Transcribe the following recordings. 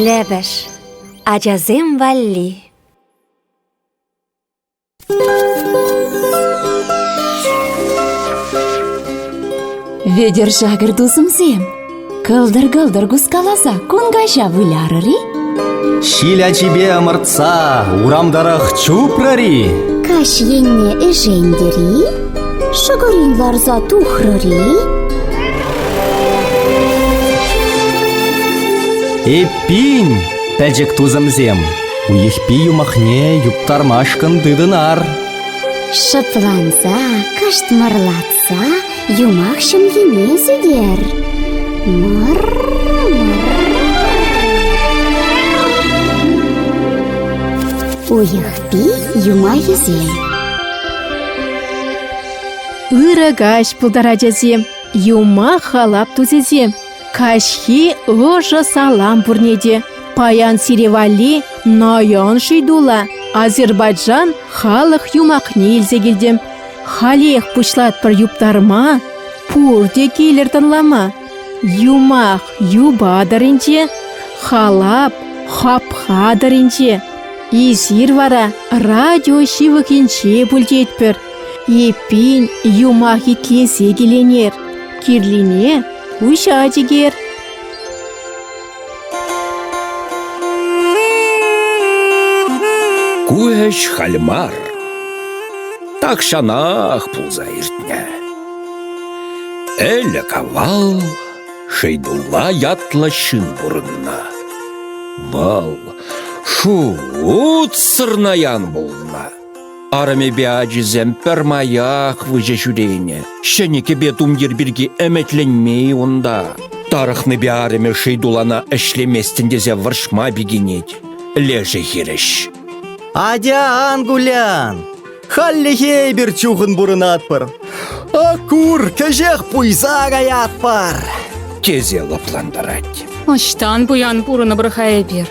Лепӗш ачасем валли Вӧдер шакӑр тусӑмсем, кӑлтӑр-кӑлтӑр кускаласа кун каҫа вылярӑр-и? Ҫил ачипе ӑмӑртса урам тӑрӑх чупрӑр-и? Каҫ енне ӗшентӗр-и? Шӑкӑрин ларса тухрӑр-и? Эппин, пӗчӗк тусӑмсем, Уйӑхпи юмахне юптармашкӑн тытӑнар. Шӑпланса, кӑшт юмах ҫӑмхине сӳтер. Уйӑхпи юмахӗсем Ырӑ каҫ пултар ачасем, юмах халап тусӗсем. Каҫхи ӑшӑ салам пурне те. Паян сире валли наён шыйтула Азербайджан халӑх юмахне илсе килтӗм. Халех пуҫлатпӑр юптарма, пурте килӗр тӑнлама. Юмах юпа тӑринче, халап хапха тӑринче. Эсир вара радио ҫывӑхӗнче пултетпӗр. Эппин, юмах итлесе киленер, кирлине куҫать-икер. Ку ӗҫ халь мар. Тахҫанах пулса иртнӗ. Ӗлӗк-авал Шейдулла ятлӑ ҫын пурӑннӑ. Вӑл шут сырнаян пулнӑ. Арӑмӗпе ачисем пӗрмаях выҫӑ ҫӳренӗ. Ҫӗнӗ кӗпе тумтир пирки ӗмӗтленмен унта. Тарӑхнипе арӑмӗ шый тулана ӗҫлеместӗн тесе вӑрҫма пикенет. Лешӗ хирӗҫ. «Атян, Гулян! Хальлӗхе эпир чухӑн пурӑнатпӑр. Ак кур, кӗҫех пуйса каятпӑр!» тесе лӑплантарать. Ӑҫтан пуян пурӑнӑпӑр-ха эпир?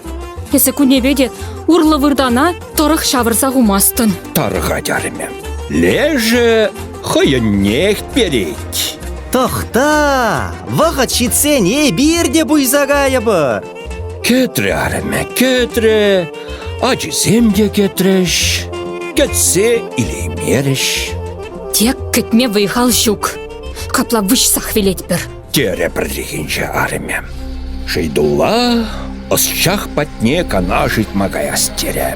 Эсӗ кунӗпе те урлӑ выртана Тӑрӑх ҫавӑрса хумастӑн. Тарӑха терӗмӗ. Лешӗ хӑйӗннех перет. Тӑхта! Вӑхӑт ҫитсен эпир те пуйса кайӑпӑр. Кӗтрӗ арӑмӗ, кӗтрӗ. Ачисем те кӗтрӗҫ. Кӗтсе илеймерӗҫ. Тек кӗтме вӑй-хал ҫук. Капла выҫсах вилетпӗр. терӗ пӗррехинче арӑмӗ. Шейдулла ӑсчах патне канаш ыйтма каяс терӗ.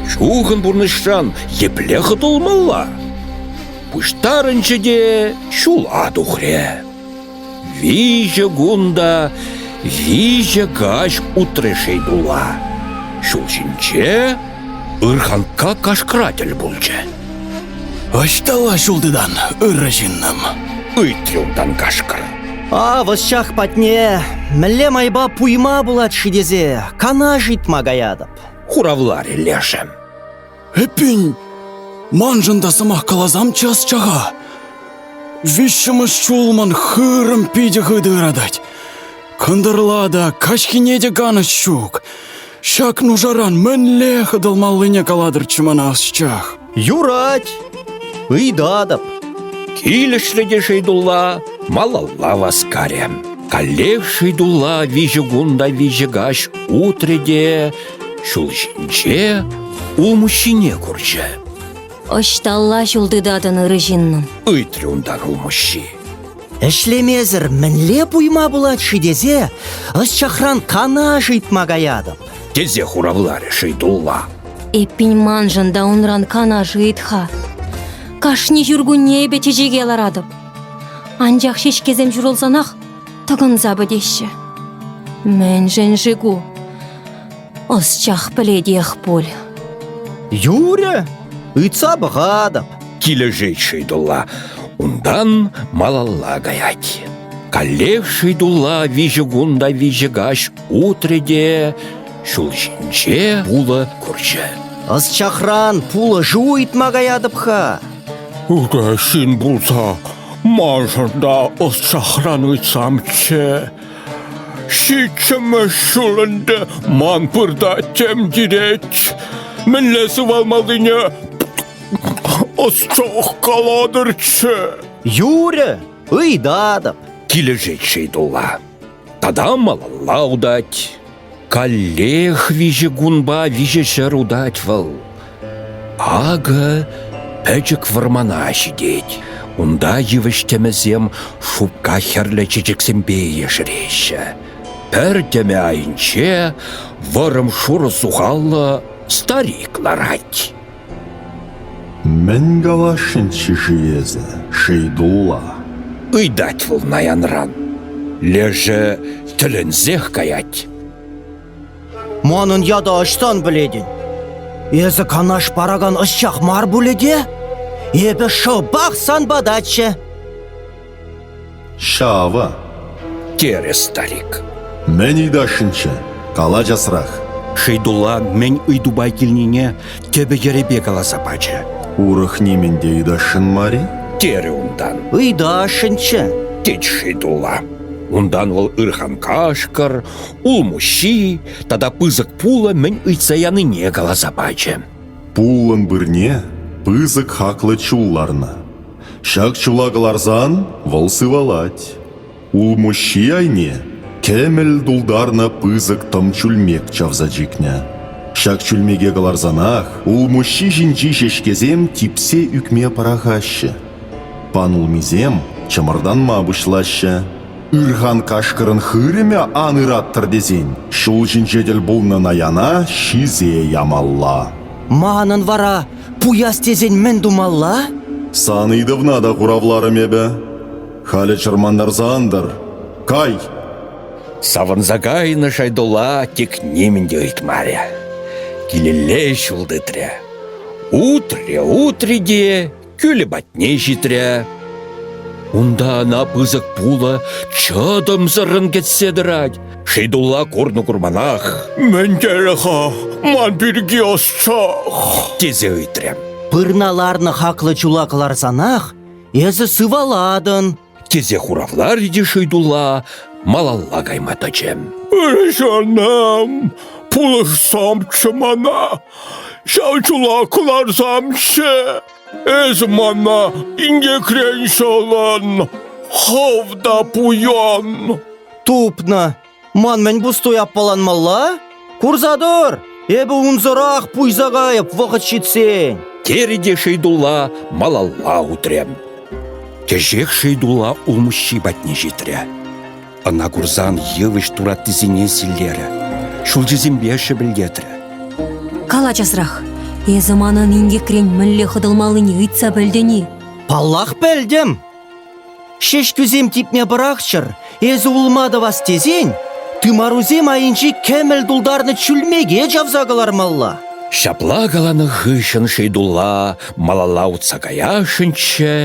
Чухӑн пурнӑҫран епле хӑтӑлмалла? Пуҫтарӑнчӗ те ҫула тухрӗ. Виҫӗ кун та виҫӗ каҫ утрӗ Шейдулла. Ҫул ҫинче ырханка кашкӑра тӗл пулчӗ. Ӑҫталла ҫул тытан, ырӑ ҫыннӑм? Ыйт юлтан кашкӑр. Ав ӑсчах патне мӗнле майпа пуйма пулать-ши тесе канаш ыйтма каятӑп. Хуравларӗ лешӗ. Эппин, маншӑн та сӑмах каласамччӗ ӑсчаха. Виҫҫӗмӗш ҫул ман хырӑм питӗ хытӑ ыратать. Кӑнтӑрла та, каҫхине те канӑҫ ҫук. Ҫак нушаран мӗнле хӑтӑлмаллине калатӑрччӗ мана ӑсчах. Юрать, ыйтатӑп. Килӗшрӗ те Шейдулла малалла васкарӗ. Каллех Шейдулла виҫӗ кун та виҫӗ каҫ утрӗ те ҫул ҫинче улмуҫҫине курчӗ. Ӑҫталла ҫул тытатӑн, ырӑ ҫыннӑм? ыйтрӗ унтан улмуҫҫи. Ӗҫлемесӗр мӗнле пуйма пулать-ши тесе ӑсчахран канаш ыйтма каятӑп. Тесе хуравларӗ Шейдулла. Эппин маншӑн та унран канаш ыйт-ха. Кашни ҫуркунне эпӗ чечеке ларатӑп. Анчах ҫеҫкесем ҫурӑлсанах тӑкӑнса пӗтеҫҫӗ. Мӗншӗн-ши ку? Ӑсчах пӗлетех пуль. Юрӗ, ыйтса пӑхатӑп. Килӗшет Шыйтулла. Унтан малалла каять. Каллех Шыйтулла виҫӗ кун та виҫӗ каҫ утрӗ те ҫул ҫинче пулӑ курчӗ. Ӑсчахран пулӑшу ыйтма каятӑп-ха. Укҫин пулса, маншӑн та ӑсчахран ыйтсамччӗ. Ҫиччӗмӗш ҫул ӗнтӗ ман пырта тем кирет. Мӗнле сывалмаллине ӑсчах калатӑрччӗ. Юрӗ, ыйтатӑп. Килӗшет Шейдулла. Тата малалла утать. Каллех виҫӗ кунпа виҫӗ ҫӗр утать вӑл. Акӑ пӗчӗк вӑрмана ҫитет. Унта йывӑҫ-тӗмӗсем шупка хӗрлӗ чечексемпе ешереҫҫӗ. Пӗр тӗмӗ айӗнче вӑрӑм шурӑ сухаллӑ старик ларать. Мӗн каласшӑнччӗ-ши эсӗ, Шейдулла? ыйтать вӑл наянран. Лешӗ тӗлӗнсех каять. Манӑн ята ӑҫтан пӗлетӗн? Эсӗ канаш паракан ӑсчах мар пулӗ те? Эпӗ шӑпах сан патаччӗ. Ҫавӑ, терӗ старик. Мӗн ыйтасшӑнччӗ? Кала часрах. Шейдулла мӗн ыйтупа килнине тӗпӗ-йӗрӗпе каласа пачӗ. Урӑх нимӗн те ыйтасшӑн мар-и? терӗ унтан. Ыйтасшӑнччӗ, тет Шейдулла. Унтан вӑл ырханкашкӑр, улмуҫҫи тата пысӑк пулӑ мӗн ыйтса янине каласа пачӗ. Пулӑн пырне пысӑк хаклӑ чул ларнӑ. Ҫак чула кӑларсан вӑл сывалать. Улмуҫҫи айне кӗмӗл тултарнӑ пысӑк тӑм чӳлмек чавса чикнӗ. Ҫак чӳлмеке кӑларсанах улмуҫҫи ҫинчи ҫеҫкесем типсе ӳкме пӑрахаҫҫӗ. Пан улмисем чӑмӑртанма пуҫлаҫҫӗ. Ырхан кашкӑрӑн хырӑмӗ ан ыраттӑр тесен ҫул ҫинче тӗл пулнӑ наяна ҫисе ямалла. Манӑн вара Пуяс тесен мӗн тумалла? Сан ыйтӑвна та хуравларӑм эпӗ. Халӗ чӑрмантарса ан тӑр. Кай! Савӑнса кайнӑ Шайдула тек нимӗн те ыйтмарӗ. Килелле ҫул тытрӗ. Утрӗ, утрӗ те кӳлӗ патне ҫитрӗ. Унта ӑна пысӑк пулӑ чӑтӑмсӑррӑн кӗтсе тӑрать. Хидулла курнӑ курманах. Мӗн тери-ха ман пирки ӑссах? тесе ыйтрӗ. Пырна ларнӑ хаклӑ чула кӑларсанах эсӗ сывалатӑн, тесе хуравлар те Шыйдулла малалла кайма тӑчӗ. Ырӑҫанам, пулӑшсамччӗ мана, ҫав чула кӑларсамччӗ. Эс мана инкекрен ҫӑлӑн, хӑв та пуян. Тупнӑ. Ман мӗн пустуй аппаланмалла? Курса тор! Эпӗ унсӑрах пуйса кайӑп вӑхӑт ҫитсен. Терӗ те Шейдулла малалла утрӗ. Кӗҫех Шейдулла улмуҫҫи патне ҫитрӗ. Ӑна курсан йывӑҫ тураттисене силлерӗ, ҫулҫисемпе шӗпӗлтетрӗ. Кала часрах, эсӗ манӑн инкекрен мӗнле хӑтӑлмаллине ыйтса пӗлтӗн-и? Паллах, пӗлтӗм. Ҫеҫкӳсем типме пӑрахчӑр, эсӗ улма тӑвас тесен тымарусем айӗнчи кӗмӗл тултарнӑ чӳлмеке чавса кӑлармалла. Ҫапла каланӑ хыҫҫӑн Шейдулла малалла утса каясшӑнччӗ,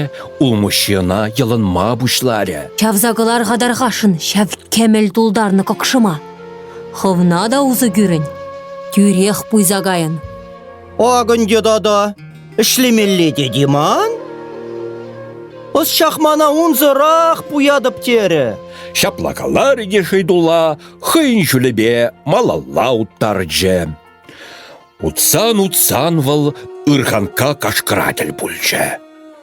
улмуҫҫи ӑна йӑлӑнма пуҫларӗ. Чавса кӑлар-ха тархасшӑн ҫав кӗмӗл тултарнӑ кӑкшӑма. Хӑвна та усӑ кӳрӗн, тӳрех пуйса кайӑн. Акӑнтӗ тата, ӗҫлемелле тет-и ман? Ӑсчах мана унсӑрах пуятӑп терӗ. Ҫапла каларӗ те Шейдулла хӑйӗн ҫулӗпе малалла уттарчӗ. Утсан-утсан вӑл ырханка кашкӑра тӗл пулчӗ.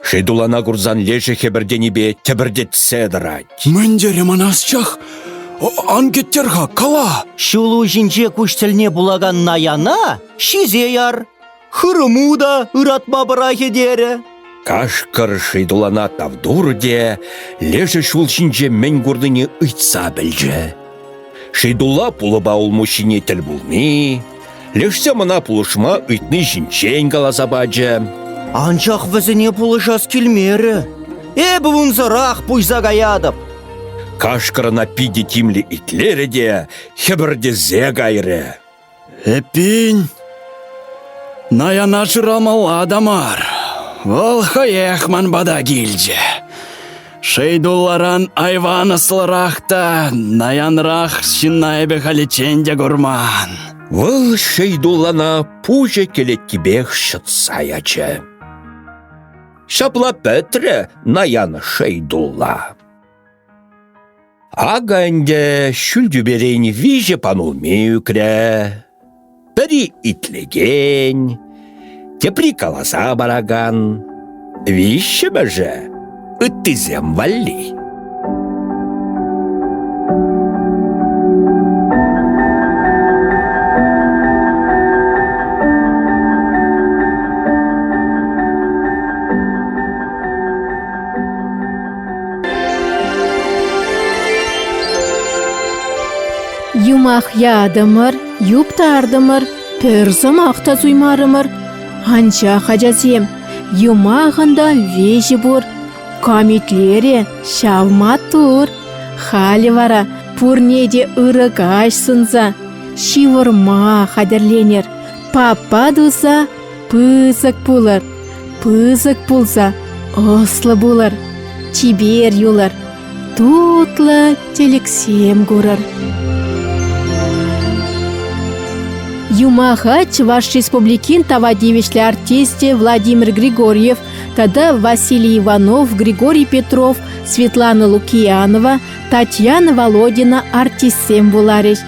Хӗйтулана курсан лешӗ хӗпӗртенипе тӗпӗртетсе тӑрать. «Мӗн терӗ ман асчах? Ан кӗттер-ха, кала!» Ҫул уҫинче куҫ тӗлне пулакан Наяна ҫисе яр, хырӑму та ыратма пӑрахӗ терӗ. Кашкӑр Шейтулана тав турӗ те лешӗ ҫул ҫинче мӗн курнине ыйтса пӗлчӗ. Шейдулла пулӑпа улмуҫҫине тӗл пулни, лешсем ӑна пулӑшма ыйтни ҫинчен каласа пачӗ. Анчах вӗсене пулӑшас килмерӗ. Эпӗ унсӑрах пуҫса каятӑп. Кашкӑр ӑна питӗ тимлӗ итлерӗ те хӗпӗртесе кайрӗ. Эппин, наяна шырамалла та мар. Вӑл хӑех ман пата килчӗ. Шейдулларан айван ӑслӑрах та наянрах ҫынна эпӗ халиччен те курман. Вӑл Шейдуллана пуҫӗ кӗлеткипех ҫӑтса ячӗ. Ҫапла пӗтрӗ наян Шейдулла. Акӑ ӗнтӗ ҫӳл тӳперен виҫӗ панулми ӳкрӗ. Пӗри итлекен, тепри каласа паракан. Виҫҫӗмӗшӗ – ыттисем валли. юмах ятӑмӑр юптартӑмӑр пӗр сӑмах та суймарӑмӑр анчах ачасем юмахӑн та веҫӗ пур кам итлерӗ ҫав маттур халӗ вара пурне те ырӑ каҫ сунса ҫывӑрма хатӗрленӗр папа туса Пысӑк пулӑр, пысӑк пулса, ӑслӑ пулӑр, чипер юлӑр, тутлӑ тӗлӗксем курӑр. Юмаха Чӑваш Республикин тава тивӗҫлӗ артисчӗ Владимир Григорьев тата Василий Иванов, Григорий Петров, Светлана Лукиянова, Татьяна Володина артистсем вуларӗҫ.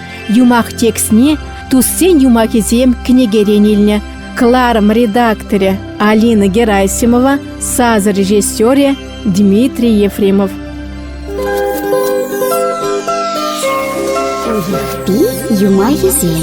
Юмах текстне туссен юмахӗсем кӗнекерен илнӗ. Кларом редакторӗ Алина Герасимова, сасӑ режиссерӗ Дмитрий Ефремов. Пи юмахӗсем